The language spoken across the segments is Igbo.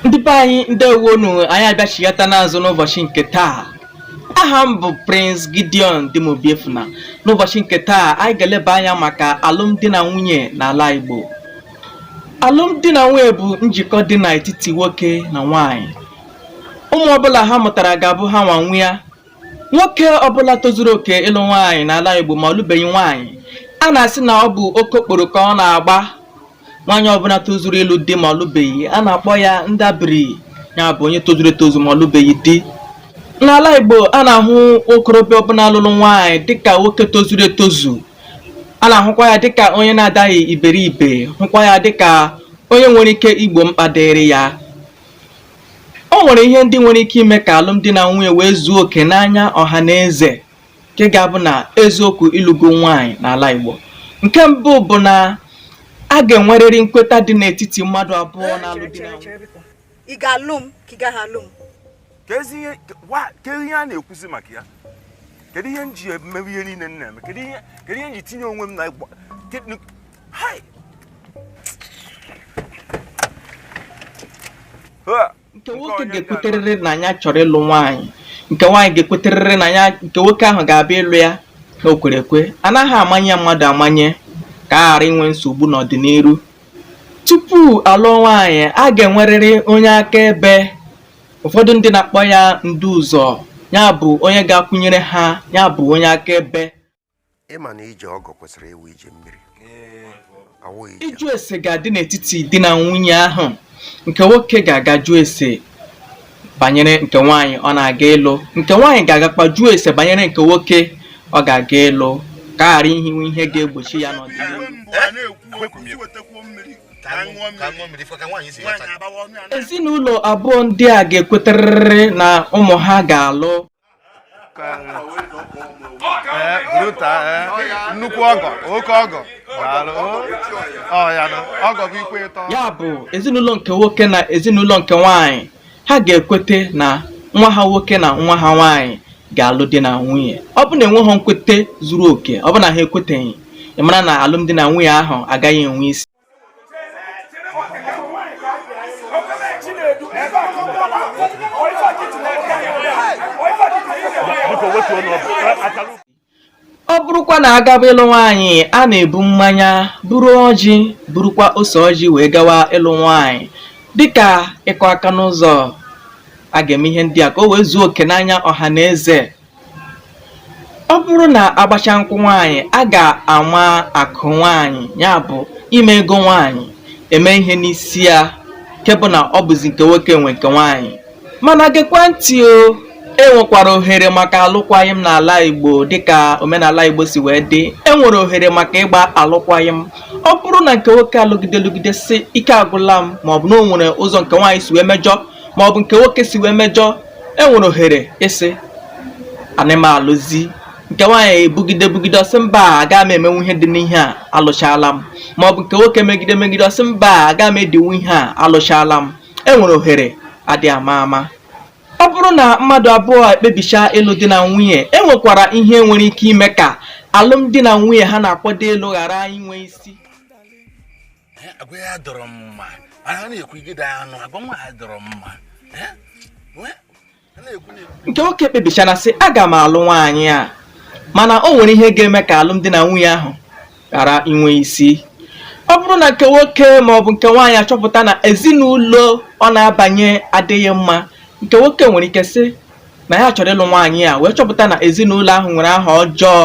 ndị be anyị ndewonu anyị abịachighata n'azụ n'ụbọchị nke taa aha m bụ Prince Gideon Dim Obiefuna n'ụbọchị nke taa anyị ga-eleba anya maka alụmdi na nwunye n'ala Igbo alụmdi na nwunye bụ njikọ dị n'etiti nwoke na nwanyị ụmụ ọbụla ha mụtara ga-abụ ha nwa nwe ya nwoke ọbụla tozuru oke ịlụ nwaanyị n'ala Igbo ma ọ lụbeghị nwaanyị a na-asị na ọ bụ oke okporo ka ọ na-agba nwaanyị ọbụla tozuru ịlụ di ma ọ lụbeghị a na-akpọ ya ndabiri ya bụ onye tozuru etozu ma ọ lụbeghị di n'ala Igbo a na-ahụ okorobịa ọbụla lụrụ nwaanyị dịka nwoke tozuru etozu a na-ahụkwa ya dịka onye na-adaghị iberibe hụkwa ya dịka onye nwere ike igbo mkpa dịrị ya o nwere ihe ndị nwere ike ime ka alụmdi na nwunye wee zuo oke n'anya ọha na eze nke ga-abụ na eziokwu ị lụgo nwaanyị n'ala Igbo nke mbụ bụ na a ga-enwerịrị nkweta dị n'etiti mmadụ abụọ eh, na-alụ di na nwunye ị ga-alụ m ka ị gaghị alụ m kedu ihe a na-ekwuzi maka ya kedu ihe m ji emewe ihe niile m na-eme kedu ihe m ji tinye onwe m na Hey! nke nwoke ga-ekweterịrị na ya chọrọ ịlụ nwaanyị nke nwaanyị ga-ekweterịrị na ya nke nwoke ahụ ga-abịa ịlụ ya na o kwere ekwe a naghị amanye mmadụ amanye ka a ghara inwe nsogbu n'ọdịnihu tupu a lụọ nwaanyị a ga-enwerịrị onye akaebe ụfọdụ ndị na-akpọ ya ndu ụzọ ya bụ onye ga-akwụnyere ha ya bụ onye akaebe ị ma na ije ọgọ kwesịrị ịwụ ije mmiri ịjụ ese ga-adị n'etiti di na nwunye ahụ nke nwoke ga-aga jụọ ese banyere nke nwaanyị ọ na-aga ịlụ nke nwaanyị ga-agakwa jụọ ese banyere nke nwoke ọ ga-aga ịlụ ka a ghara inwe ihe ga-egbochi ya n'ọdịnihu ezinụlọ abụọ ndị a ga-ekweterịrị na ụmụ ha ga-alụ ee brother ee nnukwu ọgọ oke ọgọ daalụ ọ ya nụ ọgọ bụ ikwu ịtọ ya bụ ezinụlọ nke nwoke na ezinụlọ nke nwanyị ha ga-ekwete na nwa ha nwoke na nwa ha nwanyị ga-alụ di na nwunye ọ bụ na e nweghị nkwete zuru oke ọ bụ na ha ekweteghị ị mara na alụmdi na nwunye ahụ agaghị enwe isi ọ bụrụkwa na a gaba ịlụ nwaanyị a na-ebu mmanya buru ọjị burukwa ose ọjị wee gawa ịlụ nwaanyị dịka ịkụ aka n'ụzọ a ga-eme ihe ndị a ka o wee zuo oke n'anya ọha na eze ọ bụrụ na agbacha nkwụ nwaanyị a ga-ama akụ nwaanyị ya bụ ime ego nwaanyị eme ihe n'isi ya nke bụ na ọ bụzi nke nwoke nwe nke nwaanyị mana gekwa ntị o enwekwara ohere maka alụkwaghịm n'ala Igbo dịka omenala Igbo si wee dị enwere ohere maka ịgba alụkwaghịm ọ bụrụ na nke nwoke alụgide lụgide si ike agwụla m maọbụ na o nwere ụzọ nke nwaanyị si wee mejọ maọbụ nke nwoke si wee mejọ e nwere ohere ịsị anaghị m alụzi nke nwaanyị ebugide bugide ọ sị mba aga m emenwu ihe dị n'ihe a alụchala m ma ọ bụ nke nwoke megide megide ọ sị mba aga m edinwu ihe a alụchala m e nwere ohere adị ama ama ọ bụrụ na mmadụ abụọ ekpebicha ịlụ di na nwunye e nwekwara ihe nwere ike ime ka alụmdi na nwunye ha na-akwado ịlụ ghara inwe isi nke nwoke ekpebichana sị aga m alụ nwaanyị a mana o nwere ihe ga-eme ka alụmdi na nwunye ahụ ghara inwe isi ọ bụrụ na nke nwoke ma ọ bụ nke nwaanyị achọpụta na ezinụlọ ọ na-abanye adịghị mma nke nwoke nwere ike sị na ya chọrọ ịlụ nwaanyị a wee chọpụta na ezinụlọ ahụ nwere aha ọjọọ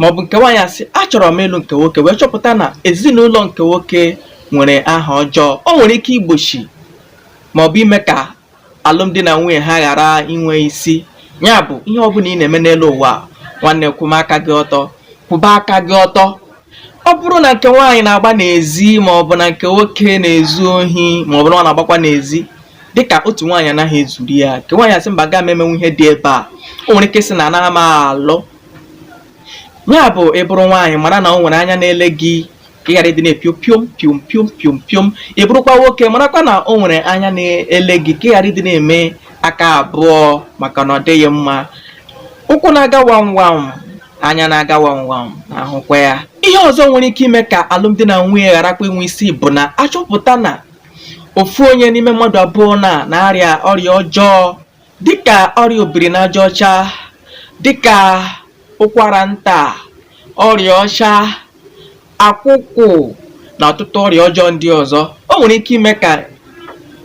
maọbụ nke nwaanyị asị achọrọ m ịlụ nke nwoke wee chọpụta na ezinụlọ nke nwoke nwere aha ọjọọ o nwere ike igbochi maọbụ ime ka alụmdi na nwunye ha ghara inwe isi ya bụ ihe ọ bụla ị na-eme n'elu ụwa nwanne kwụba aka gị ọtọ kwụba aka gị ọtọ ọ bụrụ na nke nwaanyị na-agba n'ezi maọbụ na nke nwoke na-ezu ohi maọbụ na ọ na-agbakwa n'ezi dịka otu nwaanyị anaghị ezuru ya nke nwaanyị asị mba aga m emenwu ihe dị ebe a o nwere ike sị na anaghị m alụ ya bụ ị bụrụ nwaanyị mara na o nwere anya na-ele gị ka ị ghara ịdị na-epio piom piom piom piom piom ị bụrụkwa nwoke marakwa na o nwere anya na-ele gị ka ị ghara ịdị na-eme aka abụọ maka na ọ dịghị mma ụkwụ na-aga wam wam anya na-aga wam wam na-ahụkwa ya ihe ọzọ nwere ike ime ka alụmdi na nwunye gharakwa inwe isi bụ na achọpụta na ofu onye n'ime mmadụ abụọ na na-arịa ọrịa ọjọọ dịka ọrịa obiri n'aja ọcha dịka ụkwara nta ọrịa ọcha akwụkwụ na ọtụtụ ọrịa ọjọọ ndị ọzọ o nwere ike ime ka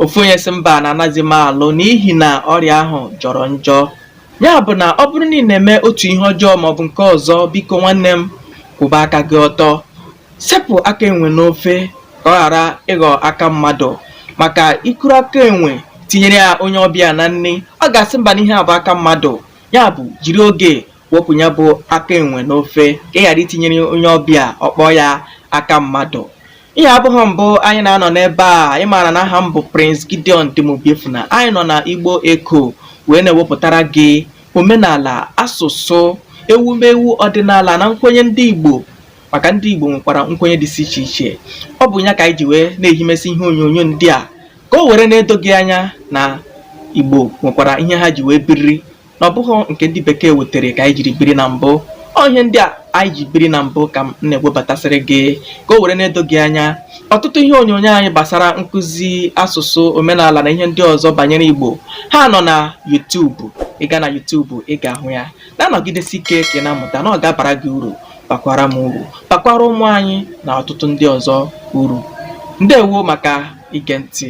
ofu onye sị mba na anaghịzi m alụ n'ihi na ọrịa ahụ jọrọ njọ ya bụ na ọ bụrụ na ị na-eme otu ihe ọjọọ maọbụ nke ọzọ biko nwanne m kwụba aka gị ọtọ Sepụ aka enwe n'ofe ka ọ ghara ịghọ aka mmadụ maka i kuru aka enwe tinyere ya onye ọbịa na nri ọ ga-asị mba na ihe a bụ aka mmadụ ya bụ jiri oge wepụ ya bụ aka enwe n'ofe ka ị ghara itinyere onye ọbịa ọ kpọọ ya aka mmadụ ihe a abụghị mbụ anyị na-anọ n'ebe a anyị maara na aha m bụ Prince Gideon Dim Obiefuna anyị nọ na Igbo Echo wee na-ewepụtara gị omenala asụsụ ewumewu ọdịnala na nkwenye ndị Igbo maka ndị Igbo nwekwara nkwenye dịsị iche iche ọ bụ ya ka anyị ji wee na-ehimesi ihe onyonyo ndị a ka o were na-edo gị anya na Igbo nwekwara ihe ha ji wee biri na ọ bụghị nke ndị bekee wetere ka anyị jiri biri na mbụ ọ ihe ndị a anyị ji biri na mbụ ka m na-egwebatasịrị gị ka o were na-edo gị anya ọtụtụ ihe onyonyo anyị gbasara nkụzi asụsụ omenala na ihe ndị ọzọ banyere Igbo ha nọ na YouTube ị gaa na YouTube ị ga-ahụ ya na-anọgidesi ike ka ị na-amụta na ọ ga-abara gị uru bakwara m uru bakwara ụmụ anyị na ọtụtụ ndị ọzọ uru ndewo maka ige ntị